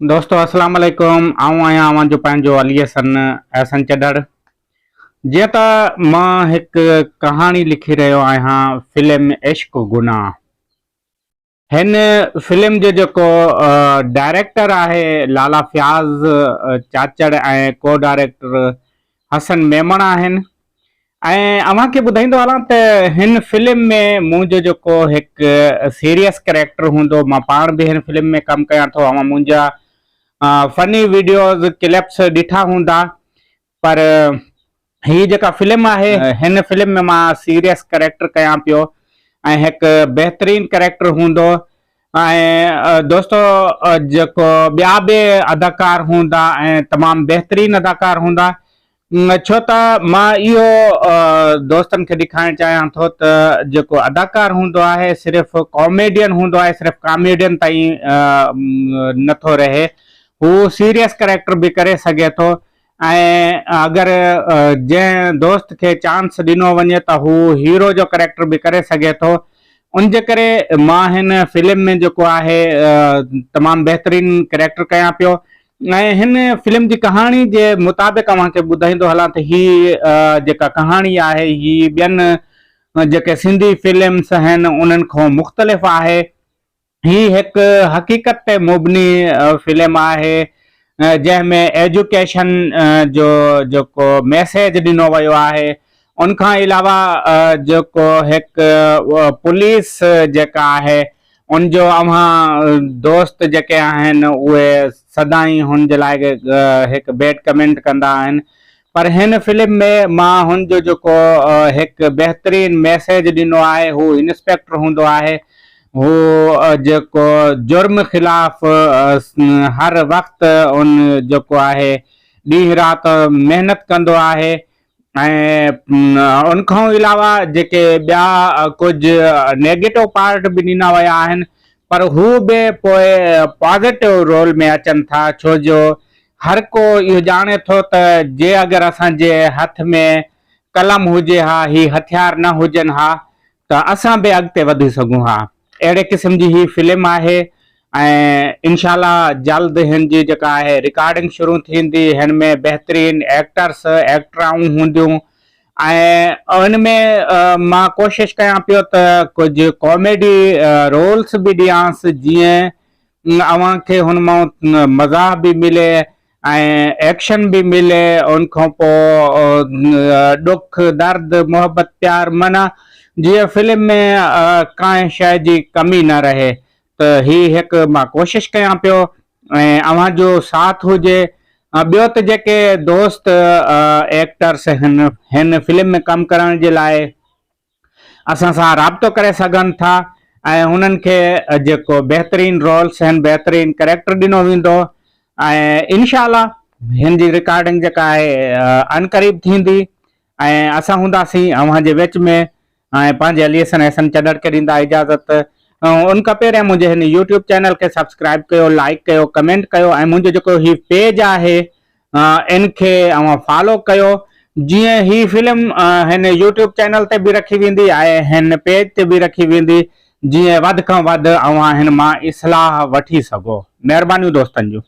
دوستو السلام عليڪم آئون آهيان اوهان جو پنهنجو علي حسن احسن چڍڙ جيئن ته مان هڪ ڪهاڻي لکي رهيو آهيان فلم عشق گناهه هن فلم جو جيڪو ڊائريڪٽر آهي لالا فياض چاچڙ ۽ ڪو ڊائريڪٽر حسن ميمڻ آهن ۽ اوهان کي ٻڌائيندو هلان ته هن فلم ۾ منهنجو جيڪو هڪ سيريس ڪريڪٽر هوندو مان پاڻ به هن فلم ۾ ڪم ڪيان ٿو اوهان منهنجا فني ويڊيوز ڪلپس ڏٺا هوندا پر هي جيڪا فلم آهي هن فلم ۾ مان سيريس ڪريڪٽر ڪيان پيو ۽ هڪ بهترين ڪريڪٽر هوندو ۽ دوستو جيڪو ٻيا به اداڪار هوندا ۽ تمام بهترين اداڪار هوندا ڇو ته مان اهو دوستن کي ڏيکارڻ چاهيان ٿو ته جيڪو اداڪار هوندو آهي صرف ڪاميڊين هوندو آهي صرف ڪاميڊين تائين نٿو رهي هو سيريس ڪريڪٽر به ڪري سگهي ٿو ۽ اگر جنهن دوست کي چانس ڏنو وڃي ته هو هيرو جو ڪريڪٽر به ڪري سگهي ٿو ان جي ڪري مان هن فلم ۾ جيڪو آهي تمام بهترين ڪريڪٽر ڪيان پيو ۽ هن فلم جي ڪهاڻي جي مطابق اوهان کي ٻڌائيندو هلان ته هي جيڪا ڪهاڻي آهي هي ٻين جيڪي سنڌي فلمس آهن انهن کان مختلف آهي. هي هڪ حقيقت تي مبني فلم آهي جنهن ۾ ايجوڪيشن جو جيڪو ميسيج ڏنو ويو آهي ان کان علاوه جيڪو هڪ پوليس جيڪا آهي ان جو اوهان دوست جيڪي آهن اهي سدائين هن جي لاء هڪ بيڊ ڪمينٽ ڪندا آهن پر هن فلم ۾ مان هن جو جيڪو هڪ بهترين ميسيج ڏنو آهي هو انسپيڪٽر هوندو آهي هو جيڪو جرم خلاف هر وقت ان جيڪو آهي ڏينهن رات محنت ڪندو آهي ۽ ان کان علاوه جيڪي ٻيا ڪجهه نيگيٽو پارٽ به ڏنا ويا آهن پر هو به پوء پازيٽو رول ۾ اچن ٿا ڇو جو هر ڪو اهو ڄاڻي ٿو ته جي اگر اسان جي هٿ ۾ قلم هجي ها، هي هٿيار نه هجن ها ته اسان به اڳتي وڌي سگهون ها. اهڙي قسم جي هي فلم آهي ۽ انشاء الله جلد هن جي جيڪا آهي رڪارڊنگ شروع ٿيندي. هن ۾ بهترين ايڪٽرس، ايڪٽرائون هونديون ۽ ان ۾ مان ڪوشش ڪيان پيو ته ڪجهه ڪاميڊي رولس به ڏيانس جيئن اوهان کي هن مان مزاح به ملي ۽ ايڪشن به ملي ان کان پوء ڏک درد محبت پيار معنيٰ جيئن فلم ۾ ڪانهن شيء جي ڪمي نه رهي ته هي هڪ مان ڪوشش ڪيان پيو ۽ اوهان جو ساٿ هجي ٻيو ته جيڪي دوست ايڪٽرس هن هن فلم ۾ ڪم ڪرڻ جي لاء اسان سان رابطو ڪري سگهن ٿا ۽ هنن کي جيڪو بهترين رولس آهن بهترين ڪريڪٽر ڏنو ويندو ۽ انشاء الله هن جي رڪارڊنگ جيڪا آهي ان قريب ٿيندي ۽ اسان هونداسين اوهان جي وچ ۾ ۽ پنهنجي علي حسن احسن چڏڙ کي ڏيندا اجازت ان کان پهريان منهنجي هن يوٽيوب چينل کي سبسڪرائب ڪيو لائڪ ڪيو ڪمينٽ ڪيو ۽ منهنجو جيڪو هي پيج آهي ان کي اوهان فالو ڪيو جيئن هي فلم هن يوٽيوب چينل تي به رکي ويندي ۽ هن پيج تي به رکي ويندي جيئن وڌ کان وڌ اوهان هن مان اصلاح وٺي سگهو مهربانيون دوستن جون.